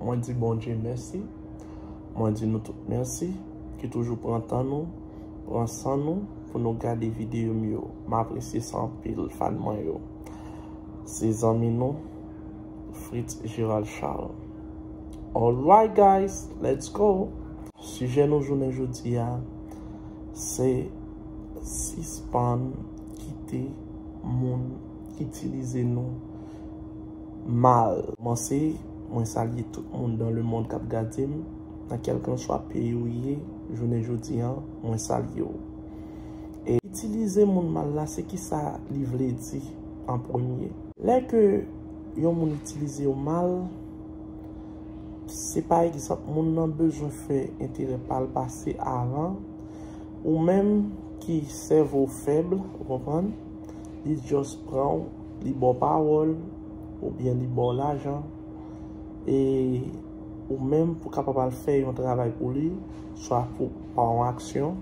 Mwen di Bondye mèsi. Mwen di nou tout mèsi ki toujou pran tan nou, pran san nou pou nou gade videyo m yo. M apresye sa anpil fan mwen yo. Se zanmi nou Fritz Gerald Charles. Alright guys, let's go! Sijè nou jounen jodi a se sispann kite moun itilize nou mal. Kòmanse Mwen salye tout moun dan le mond kap gadem nan kelkanswa peyi ou ye jounen jodi an mwen salye w e itilize moun mal la se kisa li vle di an premye? Lè ke yon moun itilizew mal se pa egzanp moun nan bezwen fè enterè pal pase avan ou menm ki sèvow fèb ou konprann? li just pranw li baw pawòl oubyen li baw lajan e ou menm pou kapab al fè yon travay pou li swa pou pa yon aksyon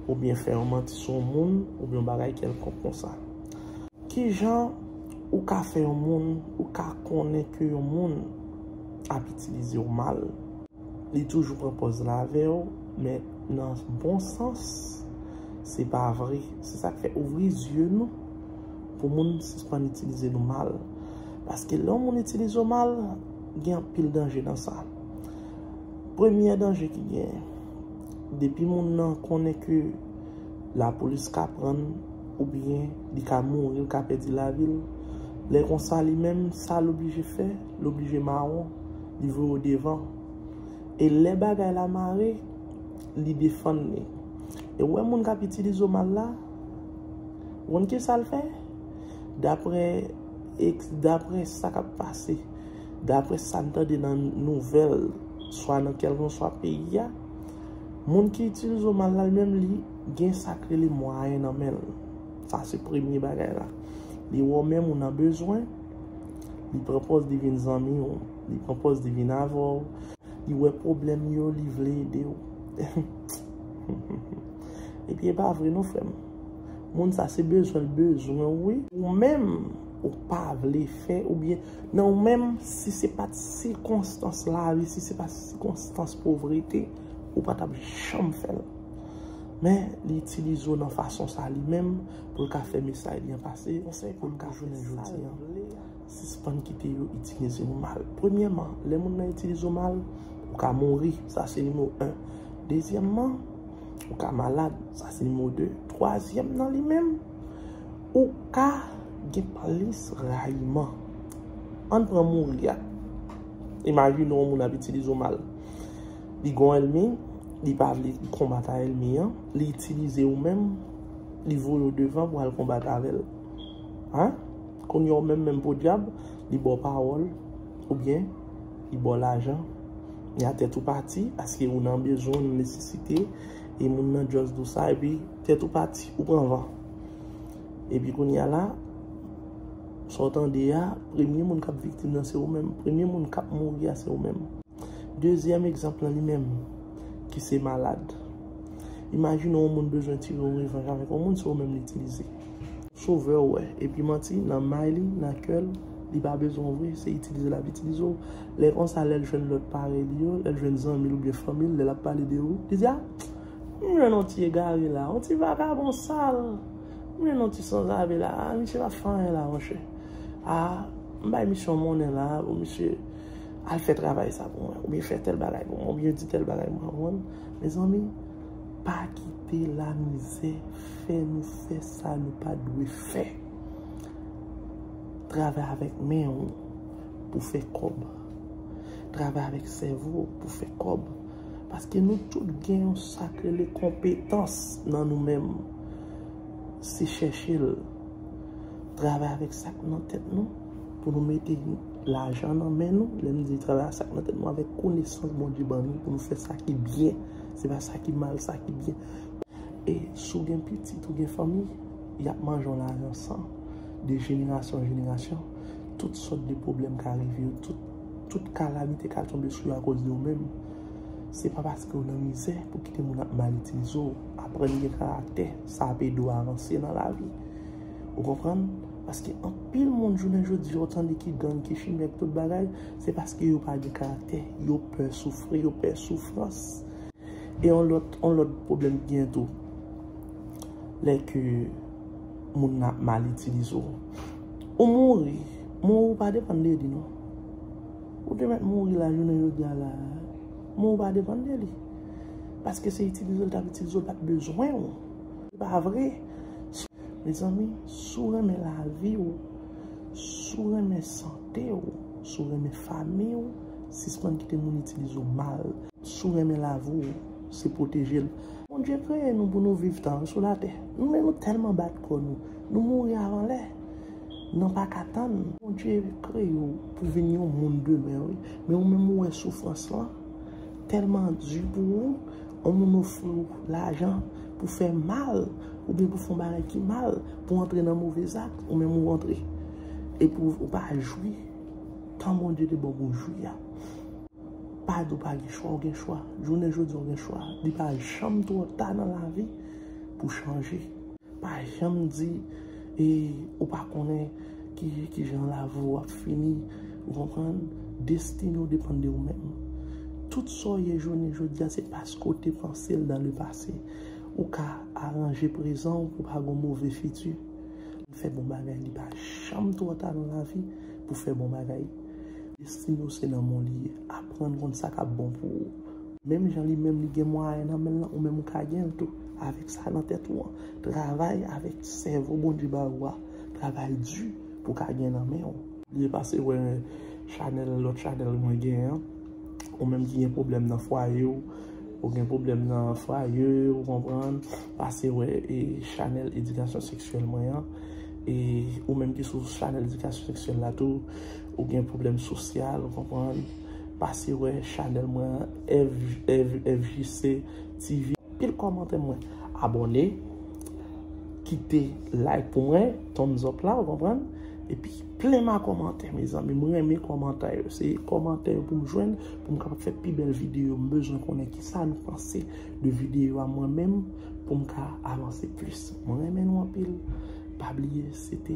oubyen fè yon manti sou yon moun oubyen yon bagay kèlkonk konsa kijan ou ka fè yon moun ou ka konnen ke yon moun ap itilizew mal. Li toujou pran pòz la avè w, men nan bon sans, se pa vre. Se sa k fè, ouvri zye nou pou moun sispann itilize nou mal. Paske lè yon moun itilize w mal, gen anpil danje nan sa. Premye danje ki gen, depi moun nan konnen ke lapolis ka pran l, oubyen li ka mouri, li ka pèdi lavi l, lè konsa li menm, sa l oblije fè, l oblije mawon. Li voye w devan. E lè bagay la mare, li defann li. E ou wè moun kap itilize w mal la, ou konn kisa l fè? Daprè eks, daprè sa kap pase, daprè sa n tande nan nouvèl, swa nan kèlkanswa peyi a, moun ki itilize w mal la li menm li gen sak rele mwayen nan men l. Sa se premye bagay la. Li wè w menm ou nan bezwen. Li pran pòz li vin zanmi w. Li pran pòz li vin avè w. Li wè pwoblèm yo, li vle ede w. Epi e pa vre non frè m. Moun sa se bezwen l bezwen w wi. Ou menm ou pa vle fè ou byen. Nan ou menm si se pa t sikonstans lavi, si se pa t sikonstans povrete, ou pa t ap janm fè l. Men li itilize w nan fason sa li menm. pou l ka fè mesay li an pase. Konsèy pou n ka jounen jodi an, Sispann kite yo itilize nou mal. Premyèman, lè moun nan itilize w mal, ou ka mouri. Sa se nimewo 1. Dezyèmman, ou ka malad. Sa se nimewo 2. Twazyèm nan li menm, ou ka gen plis rayiman. Ann pran mouri a. Imajine yon moun ap itilize w mal. Li gen yon èlmi, li pa vle konbat a èlmi an, li itilize ou menm. Li voye w devan pou al konbat avè l. A? Kounye a w menm menm podyab, li ba w pawòl, oubyen, li ba w lajan. Men a tèt ou pati, paske ou nan bezwen, ou nan nesesite, e moun nan just di w sa, epi tèt ou pati, ou pran van. Epi kounye a la, sa w tande a, premye moun k ap viktim nan se ou menm. Premye moun k ap mouri a se ou menm. Dezyèm egzanp lan li menm, ki se malad. Imajine yon moun bezwen tire yon revanj avèk yon moun, se ou menm li itilize. Sovè w wè, epi manti nan may li, nan kè l, li pa bezwen w vre, se itilize l ap itilize w. Lè konsa, lè l jwenn lòt parèy li yo, lè l jwenn zanmi l oubyen fanmi l, lè l ap pale de ou, li di a, m jwenn yon ti egare la, yon ti vagabon sal, m jwenn yon ti sanzave la, a, misye pa fè anyen la monchè. A, m bay misye yon monnen la, ou misye al fè travay sa pou mwen, oubyen fè tèl bagay pou mwen, oubyen di tèl bagay pou mwen, konprann? Mezanmi pa kite la mizè fè nou fè sa nou pa dwe fè. Travay avèk men ou pou fè kòb. Travay avèk sèvo ou pou fè kòb. Paske nou tout gen yon sak rele konpetans nan nou menm. Se chèche l. Travay avèk sak nan tèt nou. Pou nou mete lajan nan men nou, lè m di travay a sa k nan tèt nou avèk konesans Bondye ban nou pou nou fè sa ki byen, se pa sa ki mal, sa ki byen. E si w gen pitit, ou gen fanmi, y ap manje yon lajan san, de jenerasyon an jenerasyon, tout sòt de pwoblèm ka rive yo, tout kalamite ka tonbe sou yo akoz de ou menm. Se pa paske w nan mizè pou w kite moun ap mal itilize w. Aprann gen karaktè, sa ap ede w avanse nan lavi. Ou konprann? Paske anpil moun jounen jodi ou tande ki gang, ki chimè, ki tout bagay, se paske yo pa gen karaktè, yo pè soufri, yo pè soufrans. E yon lòt, yon lòt pwoblèm ki gen tou, lè ke moun nan ap mal itilize ou. Ou mouri, mò ou pa depann de li non. Ou te mèt mouri la jounen jodi a la, mò ou pa depann de li. Paske se itilize ou l t ap itilize ou l pa t bezwen ou. Se pa vre. Mezanmi, si w renmen lavi w, si w renmen sante w, si w renmen fanmi w, sispann kite moun itilize w mal. Si w renmen lavi w, se pwoteje l. Bondye kreye nou pou nou viv tan an sou latè. Men nou tèlman bat kò nou, nou mouri avan lè, nan pa ka tann. Bondye kreye w pou w vin yon moun demen wi. Men ou menm ou wè soufrans lan tèlman di pou ou. On moun ofri w lajan pou fè mal oubyen pou fè yon bagay ki mal, pou antre nan move zak, ou menm ou antre. Epi ou pa jwi tan Bondye te ba w pou w jwi a. Pa di w pa gen chwa, ou gen chwa. Jounen jodi a ou gen chwa. Li pa janm twò ta nan lavi pou chanje. Pa janm di e ou pa konnen ki jan lavi w ap fini. Ou konprann? Destine ou depann de ou menm. Tout sa w ye jounen jodi a se paske w te panse l dan le pase. Ou ka aranje prezan w pou pa gen yon move fiti. Fè bon bagay. Li pa janm twò ta nan lavi pou fè bon bagay. Destine w se nan men w li ye. Aprann konn sa k ap bon pou ou. Menm jan li menm li gen mwayen nan men l lan, ou menm ou ka gen l tou, avèk sa nan tèt ou an. Travay avèk sèvo Bondye ba ou a, travay di pou w ka gen nan men ou. Byen pase wè chanèl lòt chanèl mwen gen an, ou menm ki gen pwoblèm nan fwaye w, ou gen pwoblèm nan fwaye ou konprann, pase wè chanèl edikasyon seksyèl mwen an, e ou menm ki sou chanèl edikasyon seksyèl la tou. Ou gen problem sosyal ou konprann. Pase wè chanel mwen an FJC TV. Pil komante mwen abone. Kite like pou mwen. Thumbs up la ou konprann. Epi plen ma komante mezanmi. Mwen renmen komante yo. Se komante yo pou m jwenn. Pou m kapab fè pi bel video. M bezwen konnen ki sa nou panse de video a mwen menm. Pou m ka avanse plis. Mwen renmen nou anpil. Pa bliye se te.